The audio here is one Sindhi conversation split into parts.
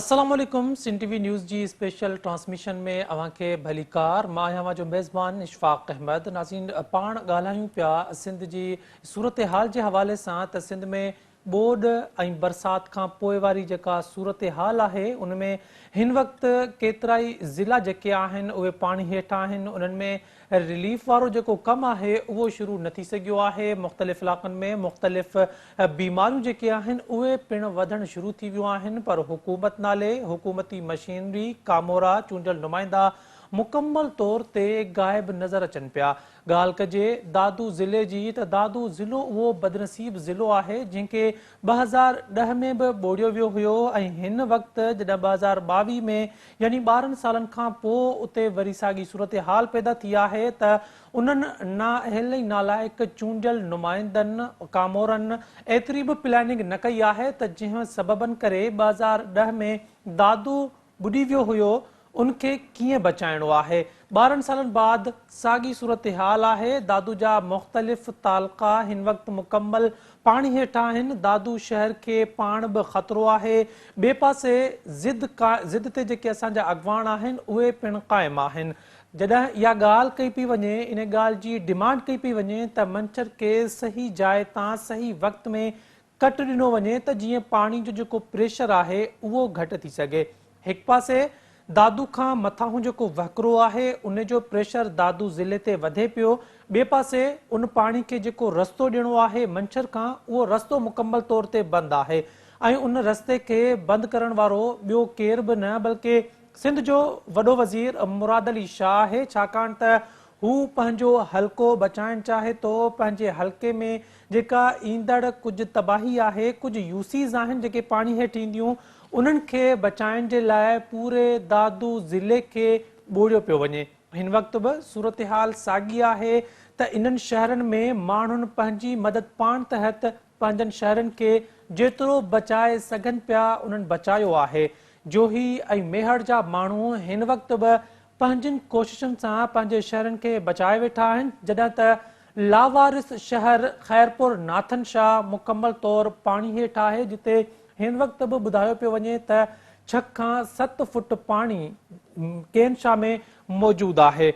السلام عليڪم سنڌ ٽي وي نيوز جي اسپيشل ٽرانسميشن ۾ اوهان کي ڀليڪار مان آهيان اوهان جو ميزبان اشفاق احمد ناظرين پاڻ ڳالهايون پيا سنڌ جي صورتحال جي حوالي سان ته سنڌ ۾ ٻوڏ ۽ برسات کان پوء واري جيڪا صورتحال آهي ان ۾ هن وقت ڪيترائي ضلعا جيڪي آهن اهي پاڻي هيٺ آهن انهن ۾ رليف وارو جيڪو ڪم آهي اهو شروع نه ٿي سگهيو آهي مختلف علائقن ۾ مختلف بيماريون جيڪي آهن اهي پڻ وڌڻ شروع ٿي ويون آهن پر حڪومت نالي حڪومتي مشينري ڪامورا چونڊيل نمائندا مڪمل طور تي غائب نظر اچن پيا ڳالهه ڪجي دادو ضلعي جي ته دادو ضلعو اهو بدنصيب ضلعو آهي جنهن کي ٻه هزار ڏهه ۾ به ٻوڙيو ويو هيو ۽ هن وقت جڏهن ٻه هزار ٻاويهه ۾ يعني ٻارهن سالن کان پوء اتي وري ساڳي صورتحال پيدا ٿي آهي ته انهن نااهل ۽ نالائق چونڊيل نمائندن ڪامورن ايتري به پلاننگ نه ڪئي آهي ته جنهن سببن ڪري ٻه هزار ڏهه ۾ دادو ٻڏي ويو هيو ان کي ڪيئن بچائڻو آهي ٻارهن سالن بعد ساڳي صورتحال آهي دادو جا مختلف تعلقا هن وقت مڪمل پاڻي هيٺ آهن دادو شهر کي پاڻ به خطرو آهي ٻئي پاسي ضد ضد تي جيڪي اسان جا اڳواڻ آهن اهي پڻ قائم آهن جڏهن اها ڳالهه ڪئي پئي وڃي ان ڳالهه جي ڊمانڊ ڪئي پئي وڃي ته منڇر کي صحيح جاء تان صحيح وقت ۾ ڪٽ ڏنو وڃي ته جيئن پاڻي جو جيڪو پريشر آهي اهو گهٽ ٿي سگهي. هڪ پاسي دادو کان مٿانهون جيڪو وهڪرو آهي ان جو پريشر دادو ضلعي تي وڌي پيو، ٻئي پاسي ان پاڻي کي جيڪو رستو ڏيڻو آهي منڇر کان اهو رستو مڪمل طور تي بند آهي ۽ ان رستي کي بند ڪرڻ وارو ٻيو ڪير به نه بلڪه سنڌ جو وڏو وزير مراد علي شاهه آهي ڇاڪاڻ ته هو پنهنجو حلقو بچائڻ چاهي ٿو، پنهنجي حلقي ۾ جيڪا ايندڙ ڪجهه تباهي آهي، ڪجهه يوسيز آهن جيڪي پاڻي هيٺ اينديون، انهن کي بچائڻ جي لاء پوري دادو ضلعي کي ٻوڙيو پيو وڃي. هن وقت به صورتحال ساڳي آهي ته انهن شهرن ۾ ماڻهن پنهنجي مدد پاڻ تحت پنهنجن شهرن کي جيترو بچائي سگهن پيا انهن بچايو آهي. جوهي ۽ ميهڙ جا ماڻهو هن وقت به پنهنجين ڪوششن سان پنهنجي شهرن کي بچائي ويٺا آهن، جڏهن ته لاوارث شهر خيرپور ناٿن شاهه مڪمل طور پاڻي هيٺ آهي، جتي هن وقت به ٻڌايو پيو وڃي ته ڇهه کان ست فوٽ پاڻي ڪين شاهه ۾ موجود آهي.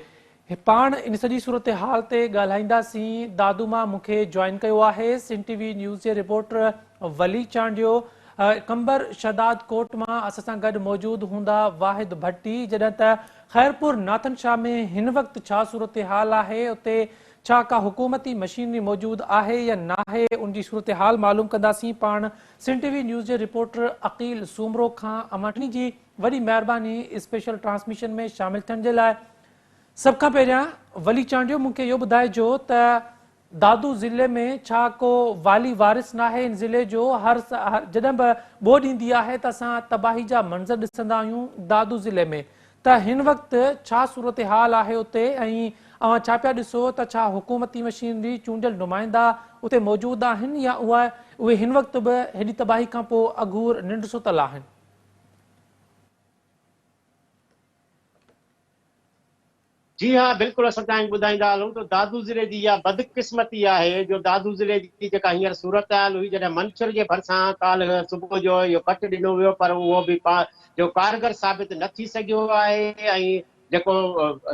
پاڻ ان سڄي صورتحال تي ڳالهائينداسين، دادوما مون کي جوائن ڪيو آهي، سنڌ ٽي وي نيوز جي رپورٽر ولي چانڊيو، قمبر شھداد ڪوٽ مان اسان سان گڏ موجود ھوندا واحد ڀٽي، جڏھن ته خيرپور ناٿن شاھ ۾ ھن وقت ڇا صورتحال آھي اتي ڇا ڪا حڪومتي مشينري موجود آھي يا ناھي ان جي صورتحال معلوم ڪنداسين پاڻ سنڌ ٽي وي نيوز جي رپورٽر عقيل سومرو کان اوھان ٽنھي جي وڏي مھرباني اسپيشل ٽرانسميشن ۾ شامل ٿيڻ جي لاء سڀ کان پھريان ولي چانڊيو مون کي اھو ٻڌائجو ته دادو ضلعي ۾ ڇا ڪو والي وارث ناهي ان ضلعي جو هر جڏهن به ٻوڏ ايندي آهي ته اسان تباهي جا منظر ڏسندا آهيون دادو ضلعي ۾ ته هن وقت ڇا صورتحال آهي اتي ۽ اوهان ڇا پيا ڏسو ته ڇا حڪومتي مشينري چونڊيل نمائندا اتي موجود آهن يا اهي هن وقت به هيڏي تباهي کان پو اگهور ننڊ ستل آهن. جي ها بلڪل اسان تنهن ٻڌائيندا هلون ته دادو ضلعي جي اها بدقسمتي آهي جو دادو ضلعي جي جيڪا هينئر صورتحال هئي جڏهن منڇر جي ڀرسان ڪالهه صبح جو اهو ڪٽ ڏنو ويو پر اهو به جو ڪارگر ثابت نه ٿي سگهيو آهي ۽ جيڪو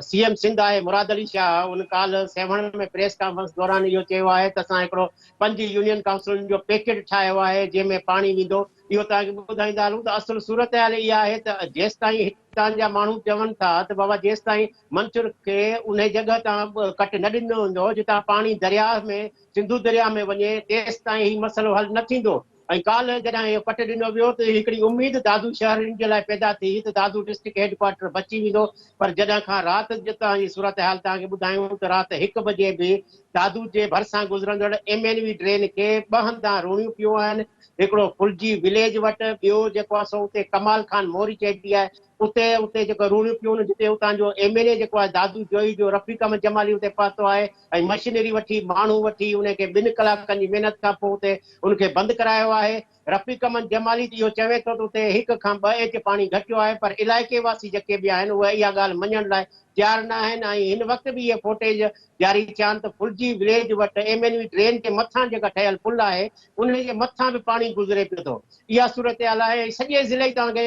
سي ايم سنڌ آهي مراد علي شاهه ان ڪالهه سيوهڻ ۾ پريس ڪانفرنس دوران اهو چيو آهي ته اسان هڪڙو پنج يونين ڪائونسلن جو پيڪيٽ ٺاهيو آهي جنهن ۾ پاڻي ويندو اهو توهان کي ٻڌائيندا هلون ته اصل صورتحال اها آهي ته جيستائين هڪ اتان جا ماڻهو چون ٿا ته بابا جيستائين منڇر کي انهي جڳهه تان ڪٽ نه ڏنو ويندو جتان پاڻي درياهه ۾ سنڌو درياهه ۾ وڃي تيستائين هي مسئلو حل نه ٿيندو ۽ ڪالهه جڏهن اهو ڪٽ ڏنو ويو ته هڪڙي اميد دادو شهرين جي لاء پيدا ٿي ته دادو ڊسٽرڪٽ هيڊ ڪوارٽر بچي ويندو پر جڏهن کان رات جتان جي صورتحال توهان کي ٻڌايون ته رات هڪ بجي به دادو جي ڀرسان گذرندڙ ايم اين وي ڊرين کي ٻه هنڌان روڻيون پيون آهن هڪڙو ڦلجي وليج وٽ ٻيو جيڪو آهي سو اتي ڪمال خان موري چئبي آهي اتي اتي جيڪو روڻيون پيون جتي اتان جو ايم اين اي جيڪو آهي دادو جويي جو رفيق احمد جمالي اتي پهتو آهي ۽ مشينري وٺي ماڻهو وٺي ان کي ٻن ڪلاڪن جي محنت کان پوء اتي ان کي بند ڪرايو آهي رفيق احمد جمالي اهو چوي ٿو ته اتي هڪ کان ٻه ايچ پاڻي گهٽيو آهي پر علائقي واسي جيڪي به آهن اهي اها ڳالهه مڃڻ لاء تيار نه آهن ۽ هن وقت به اهي فوٽيج جاري ٿيان ته ڦلجي وليج وٽ ايم اين وي ڊرين جي مٿان جيڪا ٺهيل پل آهي انهي جي مٿان به پاڻي گذري پيو ٿو اها صورتحال آهي ۽ سڄي ضلعي توهان کي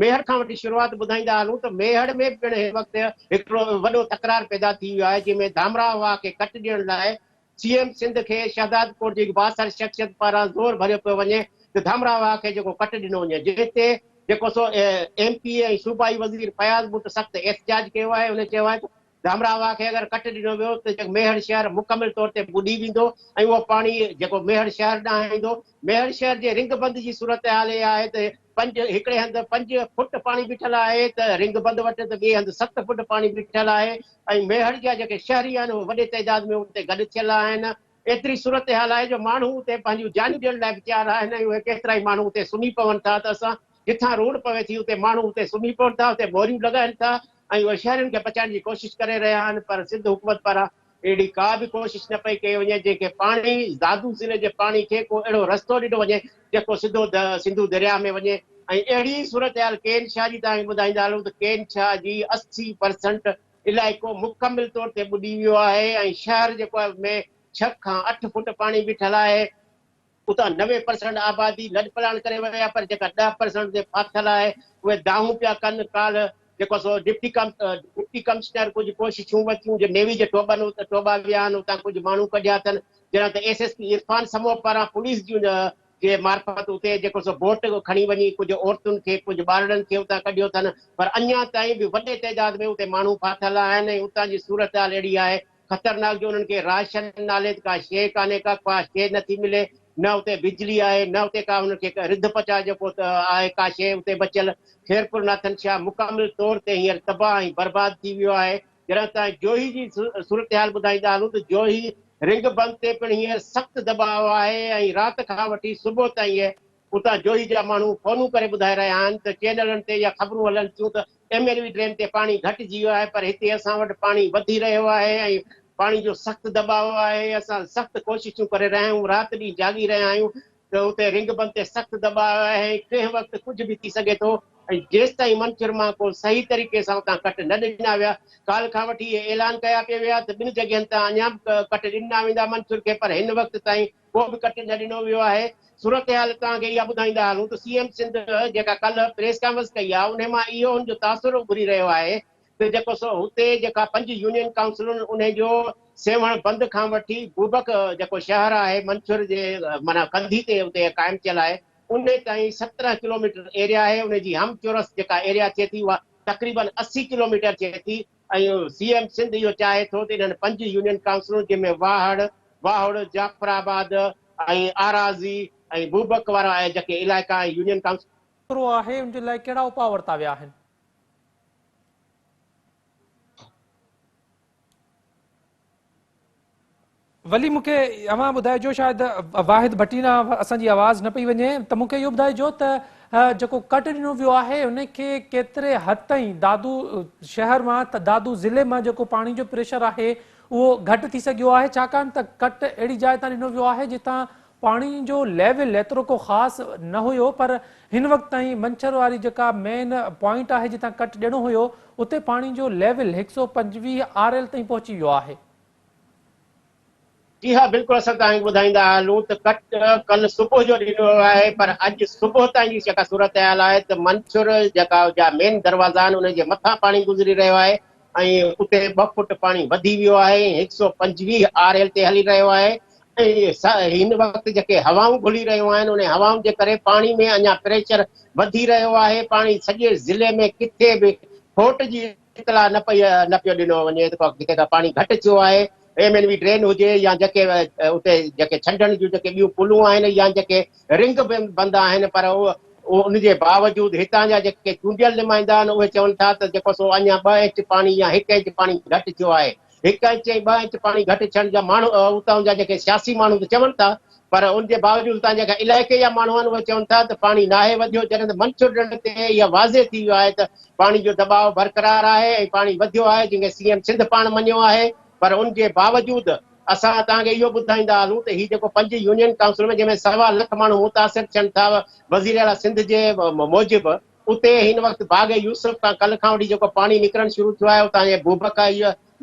ميهڙ کان وٺي شروعات ٻڌائيندا هلون ته ميهڙ ۾ به پڻ هن وقت هڪڙو وڏو تڪرار پيدا ٿي ويو آهي جنهن ۾ ڌامراهه واهه کي ڪٽ ڏيڻ لاء سي ايم سنڌ کي شهدادڪوٽ جي هڪ بااثر شخصيت پاران زور ڀريو پيو وڃي ته ڌامراهه واهه کي جيڪو ڪٽ ڏنو وڃي جنهن تي جيڪو سو ايم پي اي ۽ صوبائي وزير فياض بٽ سخت احتجاج ڪيو آهي هن چيو آهي ته گامرا واهه کي اگر ڪٽ ڏنو ويو ته ميهڙ شهر مڪمل طور تي ٻڏي ويندو ۽ اهو پاڻي جيڪو ميهڙ شهر ڏانهن ايندو. ميهڙ شهر جي رنگ بند جي صورتحال اها آهي ته پنج هڪڙي هنڌ پنج فوٽ پاڻي بيٺل آهي ته رنگ بند وٽ ته ٻئي هنڌ ست فوٽ پاڻي بيٺل آهي ۽ ميهڙ جا جيڪي شهري آهن اهي وڏي تعداد ۾ ان تي گڏ ٿيل آهن. ايتري صورتحال آهي جو ماڻهو اتي پنهنجيون جانيون ڏيڻ لاء به تيار آهن ۽ اهي ڪيترائي ماڻهو اتي سمهي پون ٿا ته اسان جٿان روڊ پوي ٿي اتي ماڻهو اتي سمهي پون ٿا اتي موريون لڳائين ٿا ۽ اهي شهرين کي بچائڻ جي ڪوشش ڪري رهيا آهن پر سنڌ حڪومت پاران اهڙي ڪا به ڪوشش نه پئي ڪئي وڃي جنهن کي پاڻي دادو ضلعي جي پاڻي کي ڪو اهڙو رستو ڏنو وڃي جيڪو سڌو سنڌو درياهه ۾ وڃي ۽ اهڙي ئي صورتحال ڪين شاهه جي تان ٻڌائيندا هلون ته ڪين شاهه جي اسي پرسنٽ علائقو مڪمل طور تي ٻڏي ويو آهي ۽ شهر جيڪو آهي ان ۾ ڇهه کان اٺ فوٽ پاڻي بيٺل آهي. اتان نوي پرسنٽ آبادي لڏپلاڻ ڪري وئي آهي پر جيڪا ڏهه پرسنٽ تي ڦاٿل آهي اهي دانهون پيا ڪن. ڪالهه جيڪو سو ڊپٽي ڊپٽي ڪمشنر ڪجهه ڪوششون ورتيون جو نيوي جي ٽوٻن ٽوٻا ويا آهن اتان ڪجهه ماڻهو ڪڍيا اٿن جڏهن ته S S P Irfan Samoon پاران پوليس جون جي معرفت اتي جيڪو سو بوٽ کڻي وڃي ڪجهه عورتن کي ڪجهه ٻارڙن کي اتان ڪڍيو اٿن پر اڃا تائين به وڏي تعداد ۾ اتي ماڻهو ڦاٿل آهن ۽ اتان جي صورتحال اهڙي آهي خطرناڪ جو انهن کي راشن نالي ته ڪا شيء ڪانهي ڪا ڪا شيء نه ٿي ملي نه اتي بجلي آهي نه اتي ڪا انهن کي رڌ پچاء جيڪو آهي ڪا شيء اتي بچيل خيرپور ناٿن شاهه مڪمل طور تي هينئر تباهه ۽ برباد ٿي ويو آهي جڏهن ته جوهي جي صورتحال ٻڌائيندا هلون ته جوهي رنگ بند تي پڻ هينئر سخت دٻاء آهي ۽ رات کان وٺي صبح تائين اتان جوهي جا ماڻهو فونون ڪري ٻڌائي رهيا آهن ته چينلن تي اها خبرون هلن ٿيون ته ايم ايل وي ڊيم تي پاڻي گهٽجي ويو آهي پر هتي اسان وٽ پاڻي وڌي رهيو آهي ۽ پاڻي جو سخت دٻاء آهي اسان سخت ڪوششون ڪري رهيا آهيون رات ڏينهن جاڳي رهيا آهيون ته اتي رنگ بند تي سخت دٻاء آهي ۽ ڪنهن وقت ڪجهه به ٿي سگهي ٿو ۽ جيستائين منڇر مان ڪو صحيح طريقي سان اتان ڪٽ نه ڏنا ويا. ڪالهه کان وٺي اهي اعلان ڪيا پي ويا ته ٻن جڳهين تان اڃا به ڪٽ ڏنا ويندا منڇر کي پر هن وقت تائين ڪو به ڪٽ نه ڏنو ويو آهي. صورتحال توهان کي اها ٻڌائيندا هلون ته سي ايم سنڌ جيڪا ڪالهه پريس ڪانفرنس ڪئي آهي انهي مان اهو هن جو تاثر اڀري رهيو آهي ته جيڪو سو هتي جيڪا پنج يونين ڪائونسلون انهي جو سيوهڻ بند کان وٺي بوبڪ جيڪو شهر آهي منڇر جي معنيٰ ڪنڌي تي اتي قائم ٿيل آهي انهي تائين سترهن ڪلوميٽر ايريا آهي انهي جي هم چورس جيڪا ايريا ٿئي ٿي اها تقريباً اسي ڪلوميٽر ٿئي ٿي ۽ سي ايم سنڌ اهو چاهي ٿو ته انهن پنج يونين ڪائونسلون جنهن ۾ واهڙ، واهڙ، جعفر آباد ۽ آرازي ۽ بوبڪ وارا جيڪي علائقا ۽ يونين ڪائونسل. ڪرو آهي ان جي لاء ڪهڙا اپاء ورتا ويا آهن؟ ولي مون کي اوهان ٻڌائجو شايد واحد ڀٽينا اسان جي آواز نه پئي وڃي ته مون کي اهو ٻڌائجو ته جيڪو ڪٽ ڏنو ويو آهي ان کي ڪيتري حد تائين دادو شهر مان ته دادو ضلعي مان جيڪو پاڻي جو پريشر آهي اهو گهٽ ٿي سگهيو آهي ڇاڪاڻ ته ڪٽ اهڙي جاء تان ڏنو ويو آهي جتان پاڻي جو ليول ايترو ڪو خاص نه هيو پر هن وقت تائين منڇر واري جيڪا مين پوائنٽ آهي جتان ڪٽ ڏيڻو هيو اتي پاڻي جو ليول هڪ سؤ پنجويهه آر ايل تائين پهچي ويو آهي. جي ها بلڪل اسان توهان کي ٻڌائيندا هلون ته ڪٽ ڪل صبح جو ڏنو ويو آهي پر اڄ صبح تائين جي جيڪا صورتحال آهي ته منڇر جيڪا جا مين دروازا آهن انهن جي مٿان پاڻي گذري رهيو آهي ۽ اتي ٻه فوٽ پاڻي وڌي ويو آهي ۽ هڪ سؤ پنجويهه آر ايل تي هلي رهيو آهي ۽ هن وقت جيڪي هوائون گهلي رهيون آهن انهي هوائن جي ڪري پاڻي ۾ اڃا پريشر وڌي رهيو آهي پاڻي سڄي ضلعي ۾ ڪٿي به فوٽ جي اطلاع نه پئي نه پيو ڏنو وڃي جتي کان پاڻي گهٽ ٿيو آهي ايم اين وي ڊرين هجي يا جيڪي اتي جيڪي ڇنڊڻ جون جيڪي ٻيون پلون آهن يا جيڪي رنگ به بند آهن پر ان جي باوجود هتان جا جيڪي چونڊيل نمائندا آهن اهي چون ٿا ته جيڪو سو اڃا ٻه انچ پاڻي يا هڪ انچ پاڻي گهٽ ٿيو آهي. هڪ انچ ۽ ٻه انچ پاڻي گهٽ ٿيڻ جا ماڻهو اتان جا جيڪي سياسي ماڻهو ته چون ٿا پر ان جي باوجود اتان جا جيڪا علائقي جا ماڻهو آهن اهي چون ٿا ته پاڻي ناهي وڌيو جڏهن ته منڇر ڍنڍ تي اها واضح ٿي ويو آهي ته پاڻي جو دٻاء برقرار آهي ۽ پاڻي وڌيو آهي جنهن کي سي ايم سنڌ پاڻ مڃيو آهي پر ان جي باوجود اسان توهان کي اهو ٻڌائيندا هلون ته هي جيڪو پنج يونين ڪائونسل ۾ جنهن ۾ سوا لک ماڻهو متاثر ٿين ٿا وزير اعليٰ سنڌ جي موجب اتي هن وقت باغ يوسف کان ڪلهه کان وٺي جيڪو پاڻي نڪرڻ شروع ٿيو آهي اتان جي بوبڪ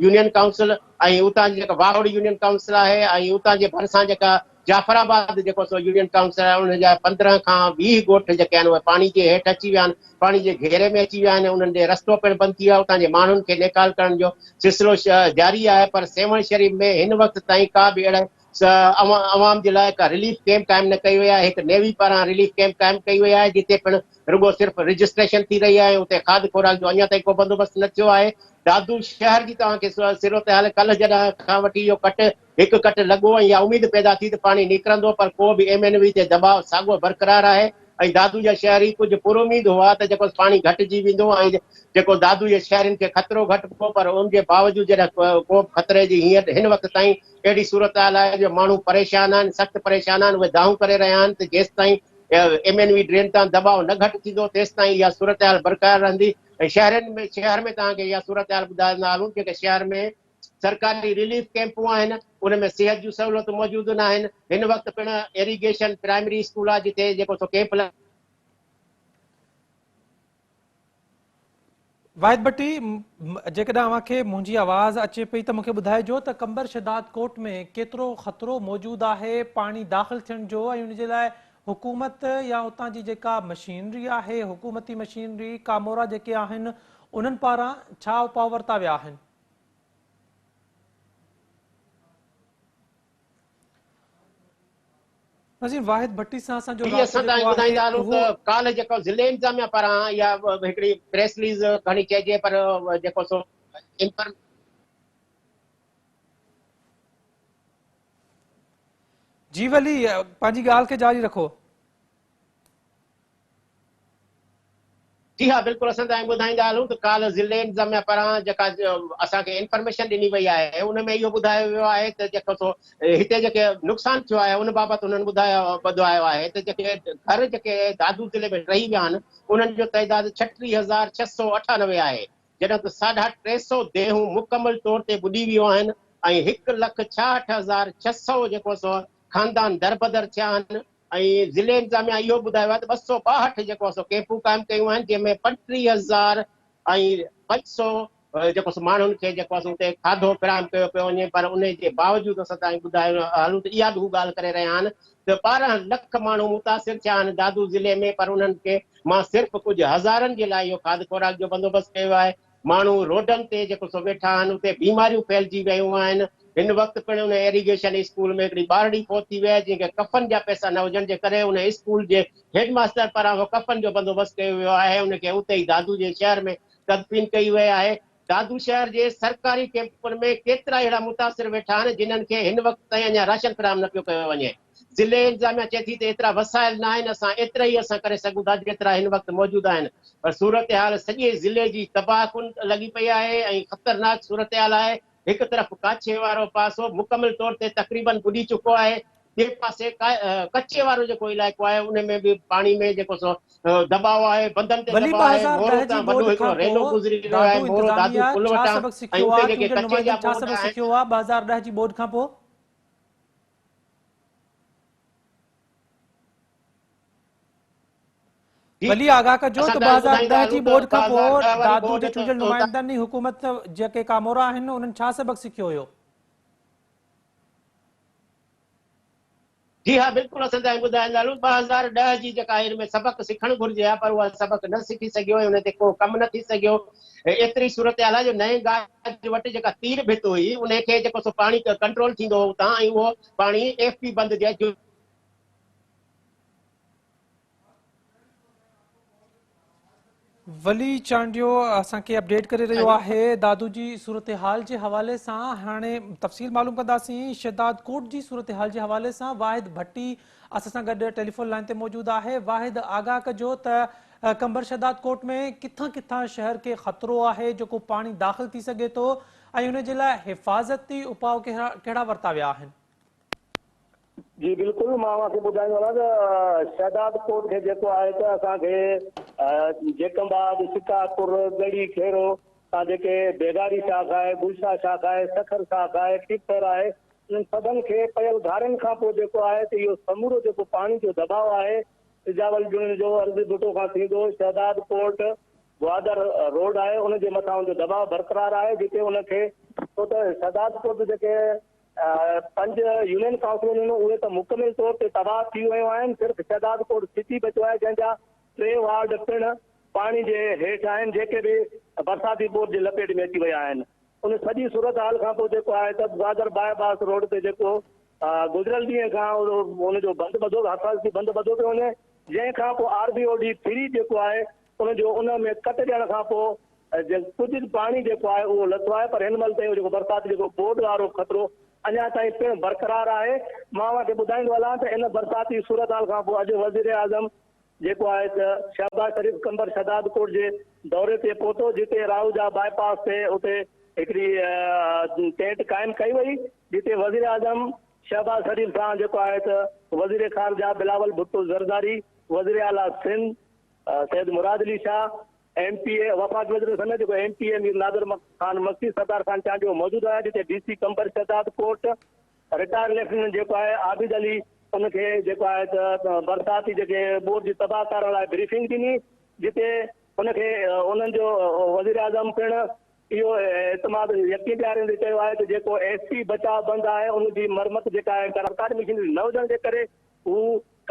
يونين ڪائونسل ۽ اتان جي جيڪا واهوڙي يونين ڪائونسل آهي ۽ اتان جي ڀرسان جيڪا جعفر آباد جيڪو سو يونين ڪائونسل آهي انهن جا پندرهن کان ويهه ڳوٺ جيڪي آهن اهي پاڻي جي هيٺ اچي ويا آهن پاڻي جي گهيري ۾ اچي ويا آهن انهن ڏي رستو پڻ بند ٿي ويو آهي اتان جي ماڻهن کي نيڪال ڪرڻ جو سلسلو جاري آهي پر سيوهڻ شريف ۾ هن وقت تائين ڪا به اهڙي عوام جي لاء ڪا رليف ڪئمپ قائم نه ڪئي وئي آهي، هڪ نيوي پاران رليف ڪئمپ قائم ڪئي وئي آهي جتي پڻ رڳو صرف رجسٽريشن ٿي رهي آهي ۽ اتي کاڌ خوراڪ جو اڃا تائين ڪو بندوبست نه ٿيو آهي. دادو شهر جي توهان کي صورتحال ڪلهه جڏهن کان وٺي اهو ڪٽ هڪ ڪٽ لڳو ۽ اها اميد پيدا ٿي ته پاڻي نڪرندو پر پوء به ايم اين وي تي دٻاء ساڳو برقرار آهي ۽ دادو جا شهري ڪجهه پراميد هئا ته جيڪو پاڻي گهٽجي ويندو ۽ جيڪو دادو جي شهرين کي خطرو گهٽبو پر ان جي باوجود جڏهن ڪوبه خطري جي هن وقت تائين اهڙي صورتحال آهي جو ماڻهو پريشان آهن، سخت پريشان آهن، اهي دانهون ڪري رهيا آهن ته جيستائين ايم اين وي ڊرين تان دٻاء نه گهٽ ٿيندو تيستائين اها صورتحال برقرار رهندي ۽ شهرين ۾ شهر ۾ توهان کي اها صورتحال ٻڌائيندا هلون جيڪي شهر ۾ سرڪاري رليف ڪيمپون آهن ان ۾ صحت جون سهولتون موجود ناهن هن وقت پڻ ايريگيشن پرائمري اسڪول آهي جتي جيڪو سو ڪيمپ واحد ڀٽي جيڪڏهن اوهان کي منهنجي آواز اچي پئي ته مونکي ٻڌائجو ته قمبر شهداد ڪوٽ ۾ ڪيترو خطرو موجود آهي پاڻي داخل ٿيڻ جو ۽ ان جي لاء حڪومت يا اتان جي جيڪا مشينري آهي حڪومتي مشينري ڪامورا جيڪي آهن انهن پاران ڇا اپاء ورتا ويا آهن نظير واحد ڀٽي سان اسان جو جي اسان تائين ٻڌائيندا هلون ته ڪالهه جيڪو ضلعي انتظاميا پاران اها هڪڙي پريس رليز گهڻي چئجي پر جيڪو سو انفر جي ولي پنهنجي ڳالهه کي جاري رکو جي ها بلڪل اسان توهان کي ٻڌائيندا هلون ته ڪالهه ضلعي انتظاميا پاران جيڪا اسان کي انفارميشن ڏني وئي آهي ان ۾ اهو ٻڌايو ويو آهي ته جيڪو سو هتي جيڪي نقصان ٿيو آهي ان بابت انهن ٻڌايو ٻڌايو آهي ته جيڪي گهر جيڪي دادو ضلعي ۾ ٽهي ويا آهن انهن جو تعداد ڇٽيهه هزار ڇهه سؤ اٺانوي آهي جڏهن ته ساڍا ٽي سؤ ديهون مڪمل طور تي ٻڏي ويون آهن ۽ هڪ لک ڇاهٺ هزار ڇهه سؤ جيڪو سو خاندان دربدر ٿيا آهن ۽ ضلعي انتظاميا اهو ٻڌايو آهي ته ٻه سؤ ٻاهٺ جيڪو آهي سو ڪيمپون قائم ڪيون آهن جنهن ۾ پنٽيهه هزار ۽ پنج سؤ جيڪو آهي سو ماڻهن کي جيڪو آهي سو اتي کاڌو فراهم ڪيو پيو وڃي پر انهي جي باوجود اسان تائين ٻڌايو هلون ته اها به هو ڳالهه ڪري رهيا آهن ته ٻارهن لک ماڻهو متاثر ٿيا آهن دادو ضلعي ۾ پر انهن کي مان صرف ڪجهه هزارن جي لاء اهو کاڌ خوراڪ جو بندوبست ڪيو آهي ماڻهو روڊن تي جيڪو سو ويٺا آهن، اتي بيماريون ڦهلجي ويون آهن، هن وقت پڻ ان ايريگيشن اسڪول ۾ هڪڙي ٻارڙي فوت ٿي وئي آهي، جنهن کي ڪفن جا پئسا نه هجڻ جي ڪري ان اسڪول جي هيڊ ماستر پاران اهو ڪفن جو بندوبست ڪيو ويو آهي، ان کي اتي ئي دادو جي شهر ۾ تدفين ڪئي وئي آهي. دادو شهر جي سرڪاري ڪيمپن ۾ ڪيترائي اهڙا متاثر ويٺا آهن، جنهن کي هن وقت تائين اڃا راشن فراهم نه پيو ڪيو وڃي. ضلعي انتظاميا چئي ٿي ته ايترا وسائل ناهن، اسان ايترائي عرصا ڪري سگهون ٿا جيترا هن وقت موجود آهن پر صورتحال سڄي ضلعي جي تباهه ڪن لڳي پئي آهي ۽ خطرناڪ صورتحال آهي، هڪ طرف ڪاڇي وارو پاسو مڪمل طور تي تقريبن ٻڏي چڪو آهي، ٻئي پاسي ڪچي وارو جيڪو علائقو آهي ان ۾ به پاڻي ۾ جيڪو سو دٻاء آهي، بندن تي دٻاء آهي، مورو تان وڏو هڪڙو رينو گذري رهيو آهي، مورو دادو پل وٽان ۽ اتي جيڪي ڪچي جا بورڊ آهن. ولي آگاهه ڪجو ته ٻه هزار ڏهه جي ٻوڏ کان پوء دادو جي چونڊيل نمائندن ۽ حڪومت جيڪي ڪامورا آهن انهن ڇا سبق سکيو هيو؟ جي ها بلڪل اسان تائين ٻڌائي لاء ٻه هزار ڏهه جي جيڪا هير ۾ سبق سکڻ گهرجي ها پر اها سبق نه سکي سگهيو ۽ ان تي ڪو ڪم نه ٿي سگهيو ايتري صورتحال آهي جو نئين گاج وٽ جيڪا تير ڀت هئي انهي کي جيڪو سو پاڻي ڪنٽرول ٿيندو هو اتان ۽ اهو پاڻي ايف پي بند جي ولي چانڊيو اسان کي اپڊيٽ ڪري رهيو آهي دادو جي صورتحال جي حوالي سان هاڻي تفصيل معلوم ڪنداسين شهدادڪوٽ جي صورتحال جي حوالي سان واحد ڀٽي اسان سان گڏ ٽيليفون لائين تي موجود آهي واحد آگاهه ڪجو ته قمبر شهداد ڪوٽ ۾ ڪٿان ڪٿان شهر کي خطرو آهي جيڪو پاڻي داخل ٿي سگهي ٿو ۽ ان جي لاء حفاظتي اپاء ڪهڙا ورتا ويا آهن جي بلڪل مان اوهان کي ٻڌائيندو هلان ته شهداد ڪوٽ کي جيڪو آهي ته اسان کي جيڪب آباد سڪا پور ڳڙي کيرو تان جيڪي بيگاري شاخ آهي گلشاهه شاخ آهي سکر شاخ آهي ٽيپر آهي انهن سڀن کي پيل گهارين کان پوء جيڪو آهي ته اهو سمورو جيڪو پاڻي جو دٻاء آهي سجاول جنن جو عرضي ڀٽو کان ٿيندو شهداد پورٽ گوادر روڊ آهي ان جي مٿان ان جو دٻاء برقرار آهي جتي ان کي ڇو ته شهداد پورٽ جيڪي پنج يونين ڪائونسلون آهن اهي ته مڪمل طور تي تباهه ٿي ويون آهن صرف شهداد پورٽ سٽي بچو آهي جنهن جا ٽي وارڊ پڻ پاڻي جي هيٺ آهن جيڪي به برساتي پورٽ جي لپيٽ ۾ اچي ويا آهن ان سڄي صورتحال کان پوء جيڪو آهي ته گوادر باء باس روڊ تي جيڪو گذريل ڏينهن کان ان جو بند ٻڌو حفاظتي بند ٻڌو پيو وڃي جنهن کان پوء R B O D three جيڪو آهي ان جو ان ۾ ڪٽ ڏيڻ کان پوء ڪجهه پاڻي جيڪو آهي اهو لٿو آهي پر هن مهل تائين جيڪو برسات جيڪو ٻوڏ وارو خطرو اڃا تائين پڻ برقرار آهي مان اوهان کي ٻڌائيندو هلان ته ان برساتي صورتحال کان پوء اڄ وزيراعظم جيڪو آهي ته شهباز شريف قمبر شهداد ڪوٽ جي دوري تي پهتو جتي راهوجا باء پاس تي اتي هڪڙي ٽينٽ قائم ڪئي وئي جتي وزيراعظم شهباز شريف سان جيڪو آهي ته وزير خارجه بلاول ڀٽو زرداري وزير اعليٰ Sindh Syed Murad Ali Shah M P A وفاق وزير سنڌ جيڪو M P A Mir Nadir Khan Makki Sardar Khan Chandio موجود آهي جتي D C Qambar Shahdad Kot retired lieutenant جيڪو آهي عابد علي ان کي جيڪو آهي ته برساتي جيڪي ٻوڏ جي تباهه ڪارن لاء بريفنگ ڏني جتي ان کي انهن جو وزيراعظم پڻ اهو اعتماد يقين ڏياريندي چيو آهي ته جيڪو ايس پي بچاء بند آهي ان جي مرمت جيڪا آهي سرڪاري مشينري نه هجڻ جي ڪري هو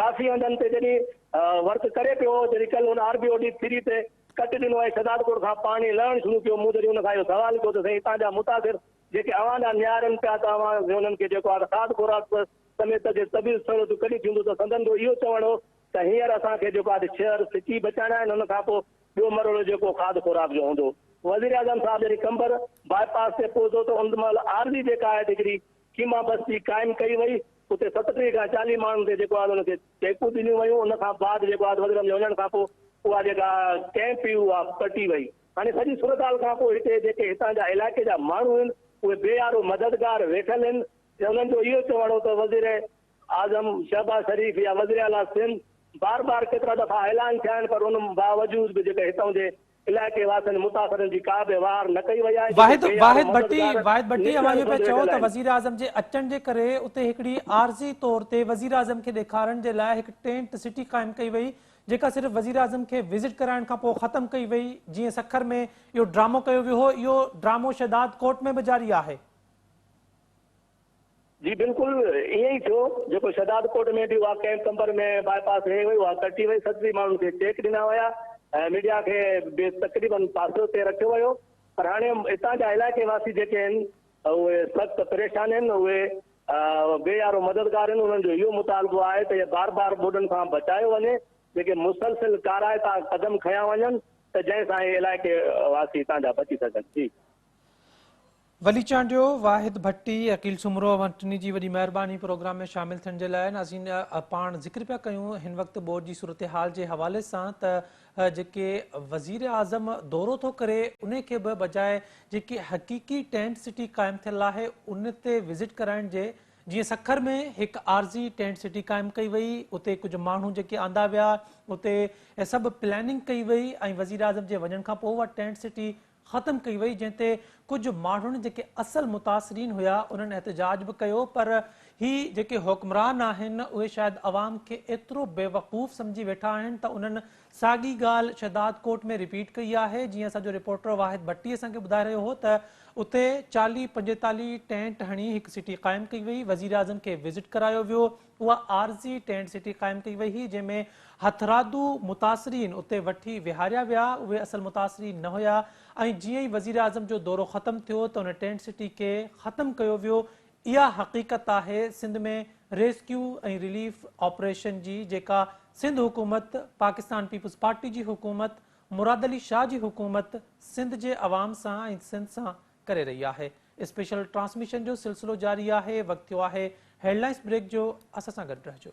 ڪافي هنڌن تي جڏهن ورڪ ڪري پيو جڏهن ڪل هن R B O D three تي ڪٽ ڏنو ۽ شهدادپور کان پاڻي لهڻ شروع ڪيو مون جڏهن ان کان اهو سوال ڪيو ته سائين هتان جا متاثر جيڪي اوهان ڏانهن نهارين پيا ته اوهان ۾ انهن کي جيڪو آهي ته کاڌ خوراڪ سميت جي طبيعي سهولتون ڪڏهن ٿينديون ته سندن جو اهو چوڻ هو ته هينئر اسان کي جيڪو آهي ته ڇهر سٽي بچائڻا آهن ان کان پوء ٻيو مرحلو جيڪو کاڌ خوراڪ جو هوندو. وزيراعظم صاحب جڏهن قمبر باء پاس تي پهتو ته ان مهل عارضي جيڪا آهي ته هڪڙي خيما بستي قائم ڪئي وئي اتي ستٽيهه کان چاليهه ماڻهن تي جيڪو آهي ته ان کي چيڪون ڏنيون ويون ان کان بعد جيڪو آهي ته وزيراعظم جي وڃڻ کان پوء اها جيڪا ڪئمپ هئي اها پٽي وئي. هاڻي سڄي صورتحال کان پوء هتي جيڪي هتان جا علائقي جا ماڻهو هن اهي بي يارو مددگار ويٺل هن ۽ انهن جو اهو چوڻ هو ته وزير اعظم شهباز شريف يا وزير اعليٰ سنڌ بار بار ڪيترا دفعا اعلان ٿيا آهن پر ان باوجود به جيڪي هتان جي علائقي واسين متاثرن جي ڪا به واهر نه ڪئي وئي آهي جيڪي بي يارو مددگار واحد ڀٽي اوهان اهو پيا چئو ته وزير اعظم جي اچڻ جي ڪري اتي هڪڙي عارضي طور تي وزير اعظم کي ڏيکارڻ جي لاء هڪ ٽينٽ سٽي قائم ڪئي وئي جيڪا صرف وزيراعظم کي وزٽ ڪرائڻ کان پوء ختم ڪئي وئي، جيئن سکر ۾ اهو ڊرامو ڪيو ويو هو، اهو ڊرامو شهداد ڪوٽ ۾ به جاري آهي. جي بلڪل ائين ئي ٿيو، جيڪو شهداد ڪوٽ ۾ به اها ڪئمپ قمبر ۾ باء پاس هيئي وئي، اها ڪٽي وئي، سٽري ماڻهن کي چيڪ ڏنا ويا ۽ ميڊيا کي به تقريباً پاسو تي رکيو ويو پر هاڻي اتان جا علائقي واسي جيڪي آهن اهي سخت پريشان آهن، اهي بي يارو مددگارن انهن جو اهو مطالبو آهي ته اهي بار بار ٻوڏن کان بچايو وڃي جيڪي مسلسل ڪارائتا قدم کنيا وڃن ته جنهن سان اهي علائقي واسي اتان جا بچي سگهن جي. ولي چانڊيو، واحد ڀٽي، عقيل سومرو اوهان ٽنهي جي وڏي مهرباني پروگرام ۾ شامل ٿيڻ جي لاء ناظرين پاڻ ذڪر پيا ڪيون هن وقت ٻوڏ جي صورتحال جي حوالي سان ته جيڪي وزيراعظم دورو ٿو ڪري انهي کي به بجاء جيڪي حقيقي ٽينٽ سٽي قائم ٿيل آهي ان تي وزٽ ڪرائڻ جي جيئن سکر ۾ هڪ عارضي ٽينٽ سٽي قائم ڪئي وئي اتي ڪجهه ماڻهو جيڪي آندا ويا اتي سڀ پلاننگ ڪئي وئي ۽ وزيراعظم جي وڃڻ کانپوء اها ٽينٽ سٽي ختم ڪئي وئي جنهن تي ڪجهه ماڻهن جيڪي اصل متاثرين هيا انهن احتجاج به ڪيو پر هي جيڪي حڪمران آهن اهي شايد عوام کي ايترو بيوقوف سمجهي ويٺا آهن ته انهن ساڳي ڳالهه شهدادڪوٽ ۾ رپيٽ ڪئي آهي جيئن اسان جو رپورٽر واحد ڀٽي اسان کي ٻڌائي رهيو هو ته اتي چاليهه پنجيتاليهه ٽينٽ هڻي هڪ سٽي قائم ڪئي وئي وزيراعظم کي وزٽ ڪرايو ويو اها عارضي ٽينٽ سٽي قائم ڪئي وئي هئي جنهن ۾ هٿرادو متاثرين اتي وٺي ويهاريا ويا اهي اصل متاثرين نه هيا ۽ جيئن ئي وزيراعظم جو دورو ختم ٿيو ته ان ٽينٽ سٽي کي ختم ڪيو ويو اها حقيقت آهي سنڌ ۾ ريسڪيو ۽ رليف آپريشن جي جيڪا سنڌ حڪومت پاڪستان پيپلز پارٽي جي حڪومت مراد علي شاهه جي حڪومت سنڌ جي عوام سان ۽ سنڌ سان ڪري رهي آهي اسپيشل ٽرانسميشن جو سلسلو جاري آهي وقت ٿيو آهي هيڊلائنس بريڪ جو اسان سان گڏ رهجو.